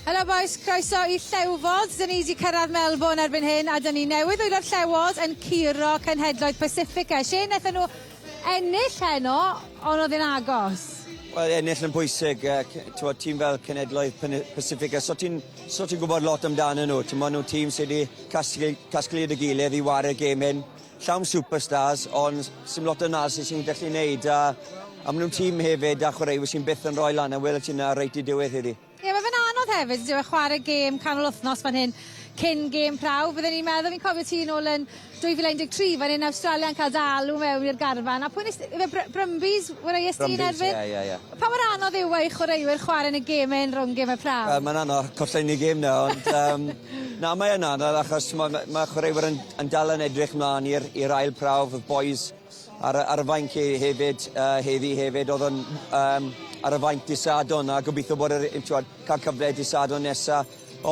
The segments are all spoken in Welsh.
Helo boys, croeso i Llewfod. Dyn ni wedi cyrraedd Melbourne erbyn hyn a dyn ni newydd o'r Llewod yn curo cenhedloedd Pacifica. Lle wnaethon nhw ennill heno, ond oedd yn agos? Wel, ennill yn pwysig, uh, tîm fel cenedloedd Pacifica, so ti'n so ti gwybod lot amdano nhw. Ti'n mwyn nhw tîm sydd wedi casglu, casglu y gilydd i wario gêm hyn. Llawn superstars ond sy'm lot o nas sy'n gallu neud a a maen nhw'n tîm hefyd a chwaraewyr sy'n byth yn rhoi lan a wela ti na reit i diwedd heddi. Ie yeah, mae fe'n anodd hefyd ydyw e chwarae gêm canol wythnos fan hyn cyn gêm prawf. Bydden i'n meddwl fi'n cofio ti yn ôl yn 2013 fan hyn Awstralia yn cael dalw mewn i'r garfan a pwy nes ife Br Brumbies wraeus ti yn erbyn? Ie, ie, ie. Pa mor anodd yw e i chwaraewyr chwarae yn y gêm yn rhwng gêm y prawf? Wel, mae'n anodd, collen ni gêm na ond um, Na, mae yn anodd achos mae ma' ma' chwaraewyr yn yn dal yn edrych mlaen i'r i'r ail prawf, y bois ar y ar y fainc he- hefyd yy heddi hefyd o'dd yn yym ar y fainc dy' Sadwrn a gobeithio bod yr yy t'wod ca'l cyfle dy' Sadwrn nesa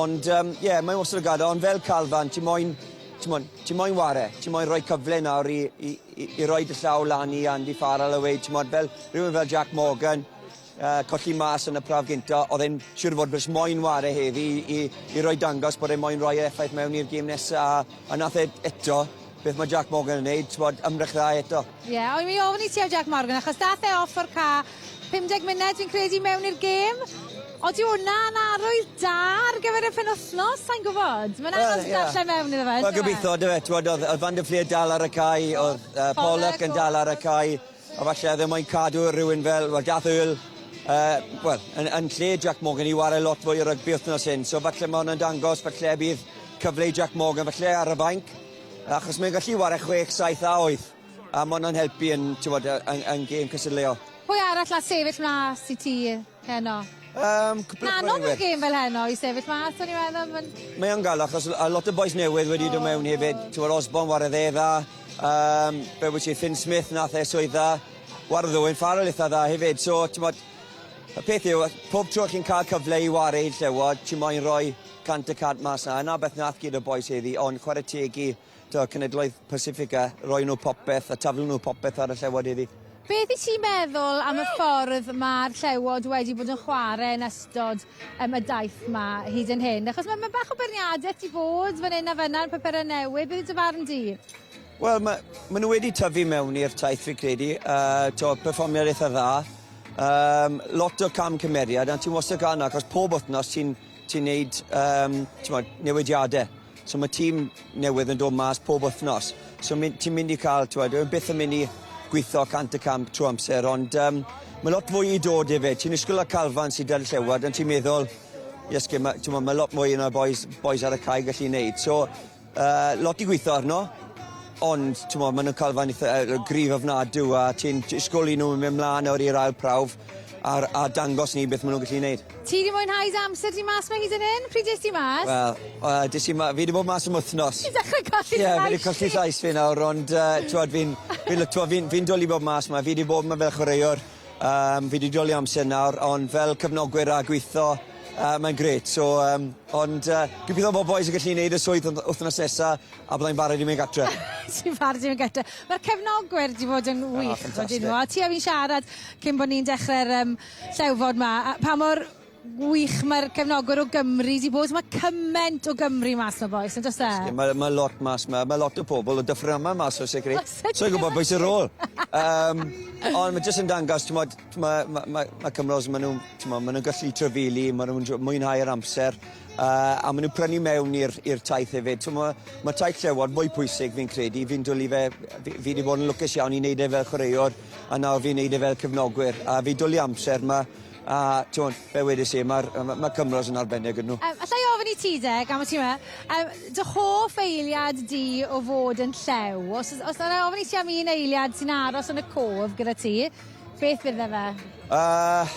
ond yym ie mae wastod yn gad'el ond fel Calvan ti moyn t'mod ti moyn ware, ti moyn roi cyfle nawr i i i i roi dy llaw lan i Andy Farrell a weud t'mod fel rywun fel Jac Morgan Uh, colli mas yn y prawf gynta, oedd e'n siŵr fod bys moyn ware heddi i, i, i roi dangos bod e'n moyn roi effaith mewn i'r gym nesaf, a, a nath e eto, beth mae Jack Morgan yn neud, bod ymdrech dda eto. Ie, yeah, o'n i'n ofyn i ti ar Jack Morgan, achos dath e off o'r ca 50 munud fi'n credu mewn i'r gêm. Oeddi hwnna'n arwydd da ar gyfer y penwthnos, sa'n gwybod? Mae'n anodd well, yeah. darllen mewn iddo fe. Wel, gobeithio, dy fe, oedd Van der Fleer dal ar y cae, oedd uh, Pollock yn dal ar y cae, A falle oedd e moyn cadw rhywun fel, wel, Garth Earl, yy, wel, yn yn lle Jac Morgan i ware lot fwy o rygbi wthnos hyn, so falle ma' wnna'n dangos falle bydd cyfle i Jac Morgan falle ar y fainc, achos mae'n gallu ware chwech, saith a wyth, a ma' wnna'n helpu yn, t'mod, yy yn yn gêm cystadleuol. Pwy arall all sefyll mas i ti? Heno. Yym cwpwl o chwaraewyr. Anodd y gêm fel heno i sefyll mas o'n i'n meddwl ma'n... Mae o'n galw achos a lot o bois newydd wedi dod mewn hefyd t'mod Osborne warodd e dda yym be' wyt ti Finn Smith nath e swydd dda warodd Owen Farrell itha dda hefyd so t'mod y peth yw yy pob tro chi'n ca'l cyfle i ware'n llewod ti moyn roi cant y cant mas 'na a 'na beth nath gyd o bois heddi ond chware teg i to, cenedloedd Pasifig a roi nhw popeth a taflu nhw popeth ar y llewod iddi. Beth i ti'n meddwl am y ffordd mae'r llewod wedi bod yn chwarae yn ystod um, y daith ma hyd yn hyn? Achos mae ma bach o berniadaeth di bod fan hyn a fan yna'r papurau newydd. Beth yw dy farn di? Wel, mae ma nhw wedi tyfu mewn i'r taith, fi credu. Uh, to, perfformiad eitha dda. Um, lot o cam cymeriad, a ti'n wastad gan, achos pob wythnos ti'n ti neud um, newidiadau. So mae tîm newydd yn dod mas pob wythnos. So ti'n mynd i cael, ti'n meddwl, byth yn mynd i gweithio cant y camp trwy amser, ond um, mae lot fwy i dod i fe. Ti'n ysgwyl y calfan sydd dan llewod, ond ti'n meddwl, yes, mae, ti'n meddwl, mae lot mwy yna boys, boys ar y cae gallu gwneud. So, uh, lot i gweithio arno, ond ti'n meddwl, maen nhw'n calfan eitha, uh, grif ofnadw, a ti'n ysgwyl i nhw mynd mlaen nawr i'r ail prawf, a, a dangos ni beth maen nhw'n gallu gwneud. Ti 'di mwynhau dy amser di mas 'ma hyd yn hyn? Pryd es di mas? Wel, yy des i ma- fi 'di bod mas am wthnos. Ti'n dechre colli dy llais di. Ie fi 'di colli llais fi nawr ond yy t'wod fi'n fi'n lico fi'n fi'n dwli bod mas 'ma fi 'di bod 'ma fel chwaraewr yym fi 'di dwli amser nawr ond fel cefnogwyr a gwitho yy mae'n grêt so yym ond yy gobeitho bo' bois yn gallu neud y swydd wth- wthnos nesa a byddai'n barod i mynd gatre. Ti'n barod i mynd gatre. Ma'r cefnogwyr 'di bod yn wych. O ffantastic. Odyn nhw a ti a fi'n siarad cyn bo' ni'n dechre'r yym Llewfod 'ma. Pa mor wych mae'r cefnogwyr o Gymru 'di bod. Mae cyment o Gymru mas 'ma bois, yn does e? Oes, mae, mae lot mas 'ma. Mae lot o pobl o Dyffryn mas o sicr. O sicr. Sa i'n gwybod beth sy'r rôl. um, ond mae jyst yn dangos, ti'n modd, mae, mae, mae, mae Cymros, maen nhw'n, ti'n modd, maen nhw'n gallu trefili, maen nhw'n mwynhau yr amser, uh, a maen nhw'n prynu mewn i'r taith hefyd. Ti'n modd, mae taith llewod mwy pwysig fi'n credu, fi'n dwlu fe, fi, fi wedi bod yn lwcus iawn i wneud e fel chwaraewr, A nawr fi'n neud e fel cefnogwyr a fi'n dwli amser 'ma a t'mod fel wedes i ma'r yy ma' ma' cymorth yn arbennig ydyn nhw. Yym alla i ofyn i ti de, gan bo' ti 'ma, yym dy hoff eiliad di o fod yn llew? Os o's os alla i ofyn i ti am un eiliad sy'n aros yn y cof gyda ti, beth fydde fe? Yy.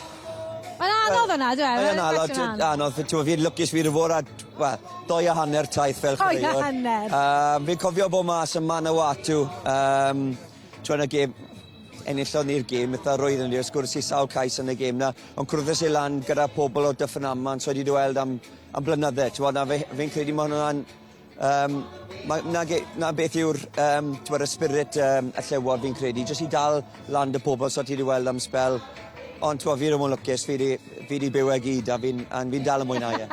Mae'n anodd wnna on'd yw e? Mae yn anodd t'wo' anodd fi t'wo' fi'n lwcus fi 'di bod ar t- wel dou a hanner taith fel chwaraewr. Dou a hanner. Yym fi'n cofio bo' mas yn Manawatu yym Tro yn y gêm, enillodd ni'r gêm eitha roedd ni, wrth gwrs i sawl cais yn y gêm na, ond cwrddus i lan gyda pobl o Dyffryn Aman, so wedi dy weld am, am blynydde, ti'n bod, na fe, fe'n credu mae hwnna'n, um, ma, na, ge, na beth yw'r, um, ti'n bod, y spirit um, y llewod fi'n credu, jyst i dal lan dy pobl, so ti wedi weld am spel, ond ti'n bod, fi ddim yn lwcus, fi wedi byw e gyd, a fi'n fi dal yn mwynhau e.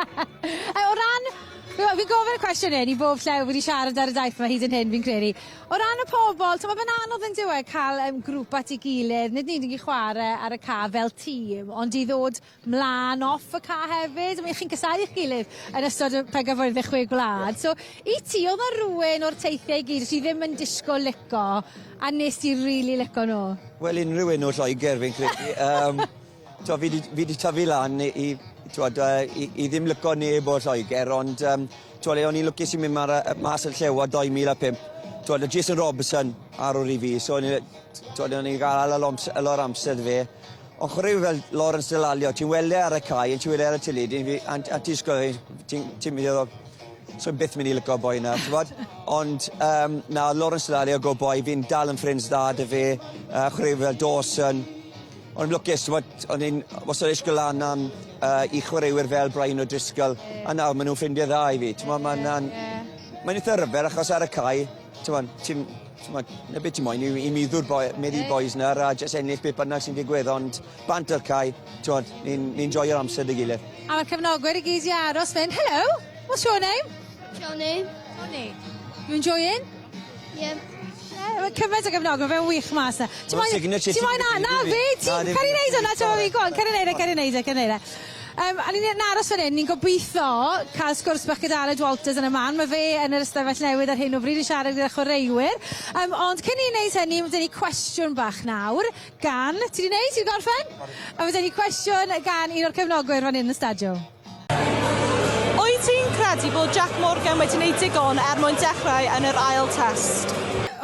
o ran, fi'n gofyn y cwestiwn hyn i bob lle wedi siarad ar y daith mae hyd yn hyn, fi'n credu, O ran y pobl, t'mo' fe'n anodd yndyw e ca'l yym grŵp at 'i gilydd, nid yn unig i chware ar y ca' fel tîm, ond i ddod mlan off y ca' hefyd, I mean chi'n casáu'ch gilydd yn ystod y pencampwriaeth y Chwe Gwlad, so i ti odd 'na rywun o'r teithie i gyd o' ti ddim yn disgwl lico a nest ti rili lico nw? Wel unrhyw un o Lloegr fi'n credu yym. T'wo' fi 'di fi 'di tyfu lan i i t'wod yy i i ddim lico neb o Lloeger ond yym t'wod le o'n i'n lwcus i myn' ma' 'na yy mas yn Llewod dou mil a pump t'wod o' Jason Robson ar ôl i fi so o'n i yy t- t'wod o'n i ga'l ala loms- yy lot o amser 'da fe. Ond chware yw fel Lawrence Dallaglio ti'n weld e ar y cae a ti'n weld e ar y teledu fi a n- a ti'n disgwl i ti'n ti'n myn' i feddwl 'sa fi byth myn' i lico boi 'na t'mod? Ond yym na o'dd Lawrence Dallaglio go' boi fi'n dal yn ffrind's dda 'da fe yy chwaraewyr fel Dawson O'n i'n lwcus, timod, o'n i'n wastad eisiau gwneud lan am yy i chwaraewyr fel Brian O'Driscoll, a nawr maen nhw'n ffrindiau dda i fi. Timod, mae'n yna'n... Mae'n eitha rhyfedd achos ar y cae, timod, ti'n... Timod, 'na be ti moyn yw i meddw'r boi- meddu i'r bois 'na a jyst ennill beth bynnag sy'n digwydd, ond bant ar cae, timod, ni'n ni'n joio'r amser 'da'i gilydd. A mae'r cefnogwyr i gyd 'di aros fan hyn. Helo! What's your name? Jonny. Jonny. You enjoying? Ie. Ie ma' cyment o gefnog- ma' fe'n wych mas 'na. Ti moyn... Ma'n signature ti. Ti moyn a- na fi ti cer i neud wnna t'mo' fi go on cer i neud e cer i neud e cer i neud e. Yym a ni myn' i aros fan 'yn ni'n gobitho ca'l sgwrs bach gyda Aled Walters yn y man ma' fe yn yr ystafell newydd ar hyn o bryd yn siarad gyda chwaraewyr yym ond cyn i ni neud hynny ma' 'dy ni cwestiwn bach nawr gan... Ti 'di neud ti 'di gorffen? Oce. A ma' 'dy ni cwestiwn gan un o'r cefnogwyr fan 'yn yn y stadio. Wyt ti'n credu bod Jac Morgan wedi wneud digon er mwyn dechrau yn yr ail Test?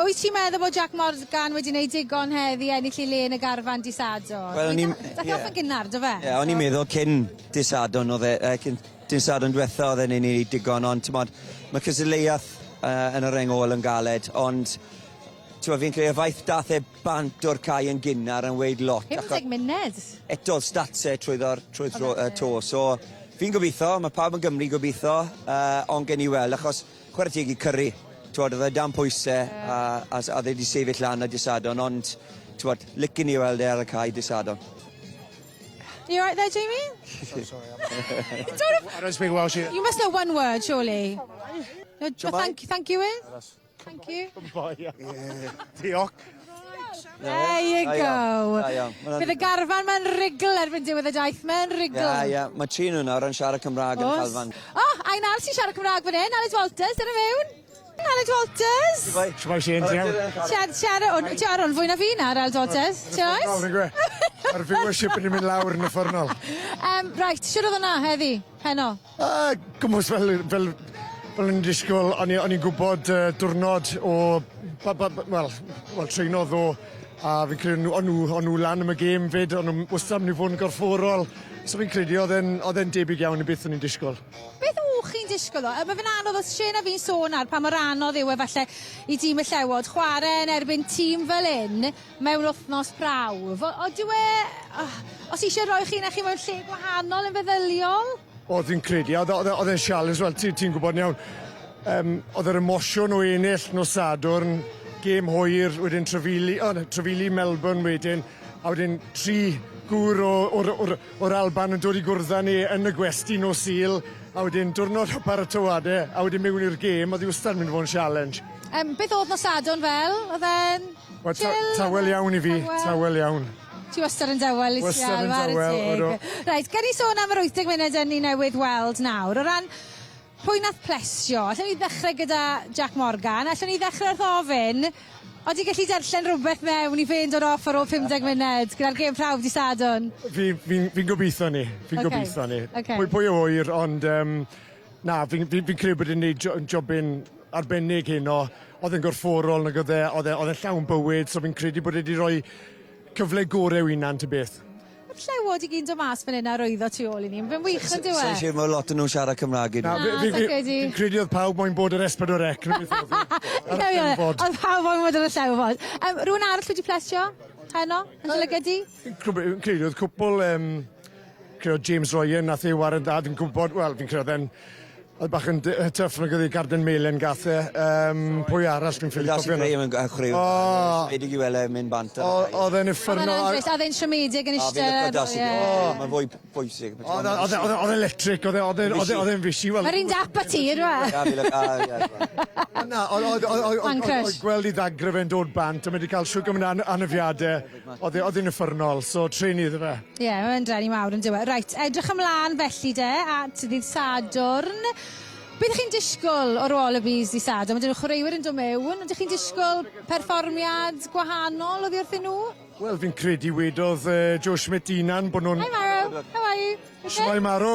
Wyt ti'n meddwl bod Jac Morgan wedi wneud digon heddi i ennill ei le yn y garfan dydd Sadwrn? Wel o'n i'n... Daeth e off yn gynnar do fe? Ie o'n i'n meddwl cyn dydd Sadwrn oedd e yy cyn dydd Sadwrn dwetha oedd e'n ei digon ond t'mod ma' cystadleuaeth yy yn y reng ôl yn galed ond t'mod fi'n credu y faith dath e bant o'r cae yn gynnar yn weud lot. 50 munud? Eto o'dd stats e trwyddo'r trwy'r thro, uh, to, so fi'n gobeithio, mae pawb yn Gymru gobeithio, uh, ond gen i weld, achos chwarae teg i Curry, twod, oedd e dan pwyse, yeah. a, a, a dde wedi sefyll lan a disadon, ond, twod, licen i weld e ar y cae disadon. You right there, Jamie? so sorry, I'm... you don't have... I don't speak Welsh either. You must know one word, surely. No, thank, thank you is? Thank you. Diolch. There you go. Da iawn. Bydd y garfan ma'n rigl erbyn diwedd y daith. Mae'n rigl. Ia, ia. Mae tri nhw nawr yn siarad Cymraeg yn y calfan. O, oh, a un arall sy'n siarad Cymraeg fan hyn, Aled Walters, dyna mewn. Aled Walters. Shwmai. Shwmai Shane, ti'n iawn? Siarad, siarad, o'n, ti'n ar o'n fwy na fi na, Aled Walters. Ti'n oes? Mae'r viewership yn mynd lawr yn y ffwrnol. Um, right, siwr oedd yna heddi, heno? A gwmws fel yy fel fel o'n i'n disgwl o'n i o'n i'n gwbod yy diwrnod o ba- ba- b- wel wel trwyno ddo' a fi'n credu o' nw o' nw o' nw lan am y gêm 'fyd o'n nw'm wastad myn' i fod yn gorfforol so fi'n credu o'dd e'n o'dd e'n debyg iawn i beth o'n i'n disgwl. Beth o' chi'n disgwl o- yy ma' fe'n anodd os Shane a fi'n sôn nawr pa mor anodd yw e falle i dîm y Llewod chware yn erbyn tîm fel 'yn mewn wthnos prawf. O- o dyw e... oh, os eisiau rhoi chi na chi mewn lle gwahanol yn feddyliol? O, fi'n credu, oedd oedd oedd e'n sialens, wel, ti'n ti gwybod iawn. Um, oedd yr emosiwn o ennill nos Sadwrn, gêm hwyr, wedyn trefili, oh, no, trefili Melbourne wedyn, a wedyn tri gŵr o, o'r, or, or Alban yn dod i gwrdd ni yn y gwesti nos Sul, a wedyn diwrnod o paratoade, a wedyn mewn i'r gêm, oedd i wastad yn mynd i fod yn sialens. Um, beth oedd nos Sadwrn fel? Oedd e'n... Wel ta- tawel iawn i fi. Tawel. Tawel iawn. Ti wastad yn dawel Lucia. Wastad yn dawel, odw. Chware teg. Reit, gawn ni sôn am yr 80 munud 'yn ni newydd weld nawr. O ran pwy nath plesio, allwn ni ddechre gyda Jac Morgan. Allwn ni ddechre wrth ofyn, odi gelli darllen rwbeth mewn i fe'n dod off ar ôl 50 munud, gyda'r gêm prawf dy' Sadwrn? Fi fi'n fi'n gobeitho 'ny. Fi'n... Oce. ...gobeitho 'ny. Oce. Pwy pwy a ŵyr ond yym na fi'n fi'n fi'n credu bod e'n neud jo- yn jobyn arbennig heno. Oedd e'n gorfforol nag oedd e, oedd e oedd e'n llawn bywyd, so fi'n credu bod e wedi rhoi cyfle gore i'w hunan ta beth. Yr llewod i gyd yn do mas fan hyn a rwyddo tu ôl i ni. Fe'n wych on'd yw e? Sai'n siŵr ma' lot o nhw'n siarad Cymraeg i ni. Na fi fi fi fi'n credu oedd pawb moyn bod yr Espadwarec na beth oedd e? Ar y llewod. Oedd pawb moyn bod ar y llewod. Yym rywun arall wedi plesio heno yn dy lygid di? Cwbl, credu oedd cwpl, um, credu oedd James Ryan, nath ei waren dad yn gwybod, wel, fi'n credu oedd e'n oedd bach yn tyff nag oedd ei garden melen gath e. Um, pwy arall fi'n ffili cofio. Graham yn chwarae. O! Wedi i wele mynd bant. Oedd e'n effernol. Oedd e'n siomedig yn eistedd. Mae'n fwy bwysig. Oedd e'n electric, oedd e'n oedd e'n fisi. Yr un dap a ti, rwa. Na, oedd gweld i ddagrau fe'n dod bant a mae wedi cael siwgr yn anafiadau. Oedd e, oedd hi'n uffernol, so treni iddo fe. Ie, yeah, mae'n dreni mawr yn diwedd. Reit, edrych ymlaen felly de at ddydd Sadwrn. Beth chi'n disgwyl o'r Wallabies di Sadwrn? Mae dyn nhw chwaraewyr yn dod mewn. Ydych chi'n disgwyl perfformiad gwahanol oddi wrthyn nhw? Wel, fi'n credu wedodd uh, Joe Schmidt unan bod nhw'n... Hi Maro, how are you? Okay? Shwai Maro.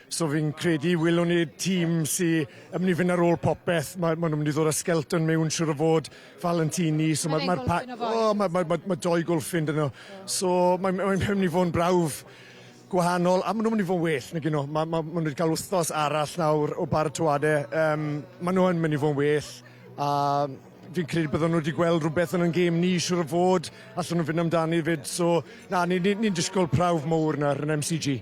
So fi'n credu welwn ni tîm sy yn mynd i fynd ar ôl popeth. Mae, maen nhw'n mynd i ddod â Skelton mewn siwr o fod, Valentini. So mae'r ma, ma pa... O, oh, mae ma, ma, ma doi golffin dyn nhw. So mae'n mae, mae mynd i fod yn brawf gwahanol a maen nhw'n mynd i fod yn well nag yno. Mae, mae, maen nhw wedi cael wythnos arall nawr o baratoadau. Um, maen nhw'n mynd i fod yn well a fi'n credu byddwn nhw wedi gweld rhywbeth yn yn gêm ni siwr o fod allan nhw'n fynd amdani fyd. So na, ni'n ni, ni, ni disgwyl prawf mowr nawr yn MCG.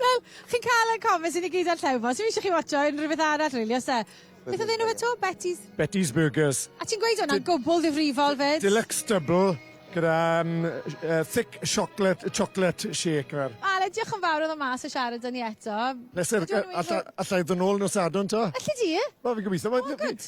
Wel, chi'n cael y comments i ni gyd ar Llewfos. Fi eisiau chi watcho unrhyw beth arall, really, os e. Beth oedd enw fe to? Betty's? Betty's Burgers. A ti'n gweud hwnna'n gwbl ddifrifol fyd? Deluxe double gyda um, uh, thick chocolate, chocolate shake yma. Ale, diolch yn fawr oedd o mas o siarad â ni eto. Pleser, allai ddod nôl nos adon to? Alli di? Wel, fi'n gobeithio. Oh, good.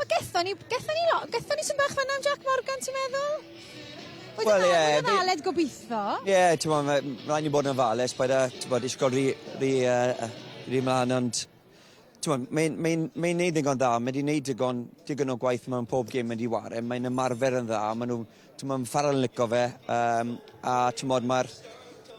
O gethon ni gethon ni lo- gethon ni swm bach fynna am Jac Morgan ti'n meddwl? Wel ie. Oedd e'n dda o'dd e'n gobitho. Ie t'mo' ma' m- ma' rai' ni bod yn ofalus paid â t'bod ishgwl rhy rhy yy yy rhy mlan ond t'mod mae'n mae'n mae'n neud ddigon dda ma' 'di neud digon digon o gwaith mewn pob gêm ma' 'di 'ware mae'n ymarfer yn dda ma' nw t'mo' ma' Farrel yn lico fe yym a t'mod ma'r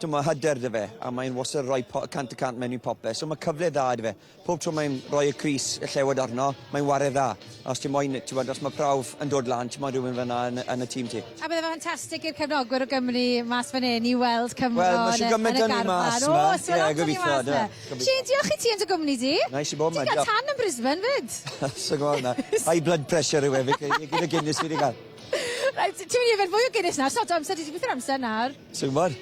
t'mo' hyder 'dy fe a mae'n wastod yn roi po- cant y cant mewn i popeth so ma' cyfle dda 'dy fe. Pob tro mae'n rhoi y crys, y llewod arno, mae'n ware dda. A os ti moyn, ti bod, os mae prawf yn dod lan, ti moyn rhywun fyna yn, yn y tîm ti. A bydde fe ffantastig i'r cefnogwyr o Gymru mas fan hyn i weld Cymro well, yn, y, yn y garfan. Mas, o, os yeah, yeah, gobeithio, da. Shane, diolch i ti yn dy gwmni di. Nice i bod yma, diolch. Ti'n cael tan yn Brisbane, fyd? Sa'n gwybod na. High blood pressure yw e, gyda Guinness fi wedi cael. Right, ti'n mynd i yfed fwy o Guinness nawr, sod o amser, ti wedi gweithio'r amser nawr. Sa'n gwybod.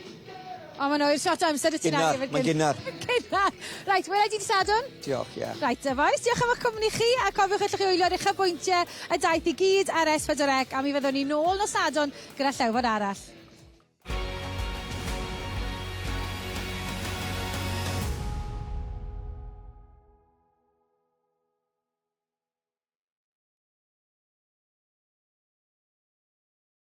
O, mae'n oer shot amser y ti'n angen. Gynnar, mae'n gynnar. Gynnar. Rhaid, wela i ti Sadwn. Diolch, ie. Yeah. Rhaid, y boys, diolch am eich cwmni chi, a cofiwch allwch chi wylio ar eich abwyntiau y daith i gyd ar S4C, a mi fyddwn ni nôl nos Sadwn gyda llewfod arall.